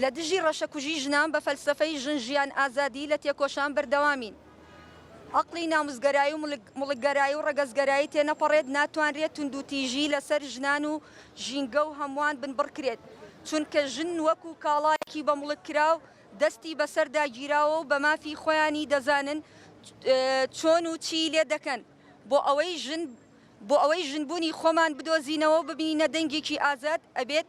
لە دژی ڕەشەکوژی ژنان بە فەلسەفەی ژن ژیان ئازادی لە تێکۆشان بەردەوامین. ئەقڵی ناموسگەرایی و موڵکگەرایی و ڕەگەزگەرایی تێنەپەڕێت، ناتوانرێت توندوتیژی لەسەر ژنان و ژینگە و هەمووان بنبڕکرێت، چونکە ژن وەکو کاڵایەکی بە موڵک کراو دەستی بەسەردا گیراوە و بە مافی خۆیانی دەزانن چۆن و چی لێ دەکەن بۆ ئەوەی ژن بۆ ئەوەی ژنبوونی خۆمان بدۆزینەوە و ببینە دەنگێکی ئازاد ئەبێت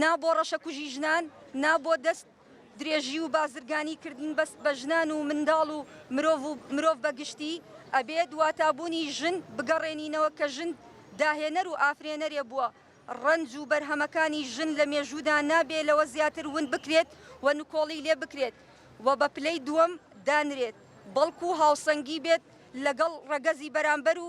نا بۆ ڕەشەکوژی ژنان، نا بۆ دەست درێژی و بازرگانی کردن بەس بە ژنان و منداڵ و مرۆڤ و مرۆڤ بە گشتی، ئەبێت واتابوونی ژن بگەڕێنینەوە کە ژن داهێنەر و ئافرێنەرێ بووە، ڕەنج و بەرهەمەکانی ژن لە مێژوودا نابێ لەوە زیاتر ون بکرێت و نکۆڵی لێ بکرێت و بە پلەی دووەم دانرێت بەڵکوو هاوسەنگی بێت لەگەڵ ڕەگەزی بەرامبەر و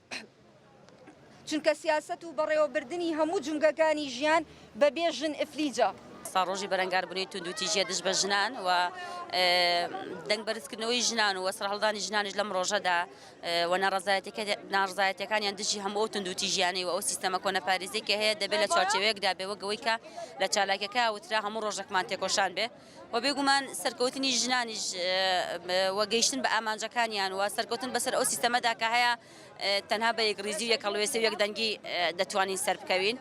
چونکە سیاسەت و بەڕێوەبردنی هەموو جومگەکانی ژیان بەبێ ژن ئفلیجە. ئێستا ڕۆژی بەرەنگاربوونەوەی توندوتیژییە دژ بە ژنان و دەنگ بەرزکردنەوەی ژنان و سەرهەڵدانی ژنانیش لەم ڕۆژەدا و ناڕزایەتەکانیان دژی هەموو توندوتیژیانەی و ئەو سیستەمە کۆنەپارێزی کە هەیە دەبێت لە چوارچێوەیەکدا بێ وەگەوەی کە لە چالاکەکە وترا هەموو ڕۆژێکمان تێکۆشان بێ و بێگومان سەرکەوتنی ژنانیش و گەیشتن بە ئامانجەکانیان و سەرکەوتن بەسەر ئەو سیستەمەدا کە هەیە تەنها بە یەکڕیزی و یەکەڵوێستی و یەکدەنگی دەتوانین سەر بکەوین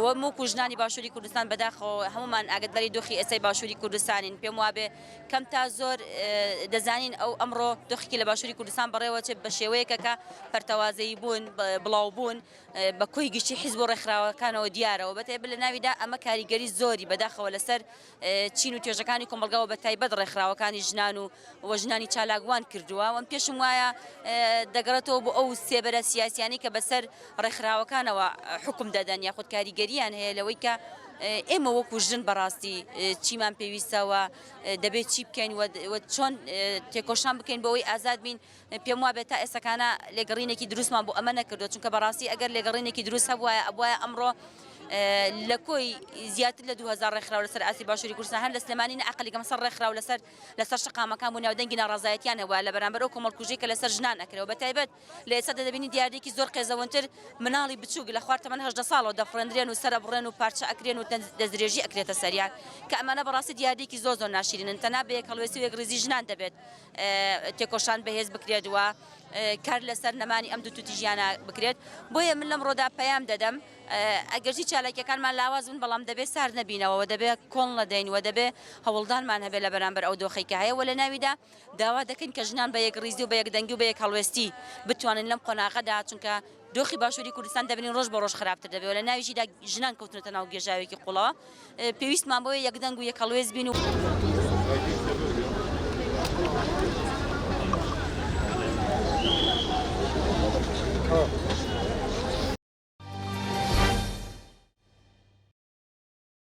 و موک و ژنانی باشووری کوردستان بەداخەوە هەمومان ئاگداری دۆخی ئێستای باشووری کوردستانین پێم وابێ کەم تا زۆر دەزانین ئەو ئەمڕۆ دۆخێکی لە باشووری کوردستان بەڕێوە چێت بە شێوەیەکە کە پەرتەوازەیی بوون بڵاو بوون بە کۆی گشتی حیزب و ڕێکخراوەکانەوە دیارەوە بەتێ بلە ناویدا ئەمە کاریگەری زۆری بەداخەوە لەسەر چین و توێژەکانی کۆمەڵگا و بەتایبەت ڕێکخراوەکانی ژنان و و ژنانی چالاک وان کردووە وەم پێشم وایە دەگەڕێتەوە بۆ ئەو سێبەرە سیاسیانی کە بەسەر ڕێکخراوەکانەوە حکم دەدەن یاخود کاریگەریان هەیە لەوەی کە ئێمە وەکو ژن بەڕاستی چیمان پێویستەوە دەبێت چی بکەین چۆن تێکۆشان بکەین بۆەوەی ئازاد بین پێم وابێت تا ئێستەکانە لێگەڕینێکی دروستمان بۆ ئەمە نەکردو چونکە بەڕاستی ئەگەر لێگەڕینێکی دروست هەبواە ئەبواە ئەمڕۆ لە کۆی زیاتر لە 2000 ڕێکخراو لەسەر ئاسی باشووری کوردستان هەر لە سلێمانی نەعقلەکەم سەر ڕێکخراو لەسەر لەسەر شقامەکان بوو ناودەنگی ناڕازایەتیان هەبووە لە بەرامبەر ئەو کۆمەڵکوژی کە لەسەر ژنان ئەکرەوە بە تایبەت لە ئێستا دەبینی دیاردێکی زۆر قێزەونتر مناڵی بچووک لە خوار تەمەەن هەدە ساڵەوە دەفڕێنرێن و سەر ئەبڕێن و پارچە ئەکرێن و دەستدرێژی ئەکرێتە سەریان کە ئەمانە بەڕاستی دیاردێکی زۆر زۆر ناشرینن تەنا بە یەک هەڵوێستی و یەک ڕیزی ژنان دەبێت تێکۆشان بەهێز بکرێت و کار لەسەر نەمانی ئەم دوو توتیژیانە بکرێت بۆیە من لەمڕۆدا پەیام دەدەم ئەگەرچی چالاکیەکانمان لاواز بن بەڵام دەبێت سارد نەبینەوە دەبێت کۆڵ نەدەین و دەبێت هەوڵدانمان هەبێت لە بەرامبەر ئەو دۆخی کە هەیە و لە ناویدا داوا دەکەین کە ژنان بە یەک ڕیزی و بە یەک دەنگی و بە یەک هەڵوێستی بتوانین لەم قۆناغەدا چونکە دۆخی باشوری کوردستان دەبینین ڕۆژ بە ڕۆژ خراپتر دەبێ و لە ناویشیدا ژنان کەوتونەتە ناو گێژاوێکی قوڵەوە. پێویستمان بەوەیە یەکدەنگ و یەکهەڵوێست بین و.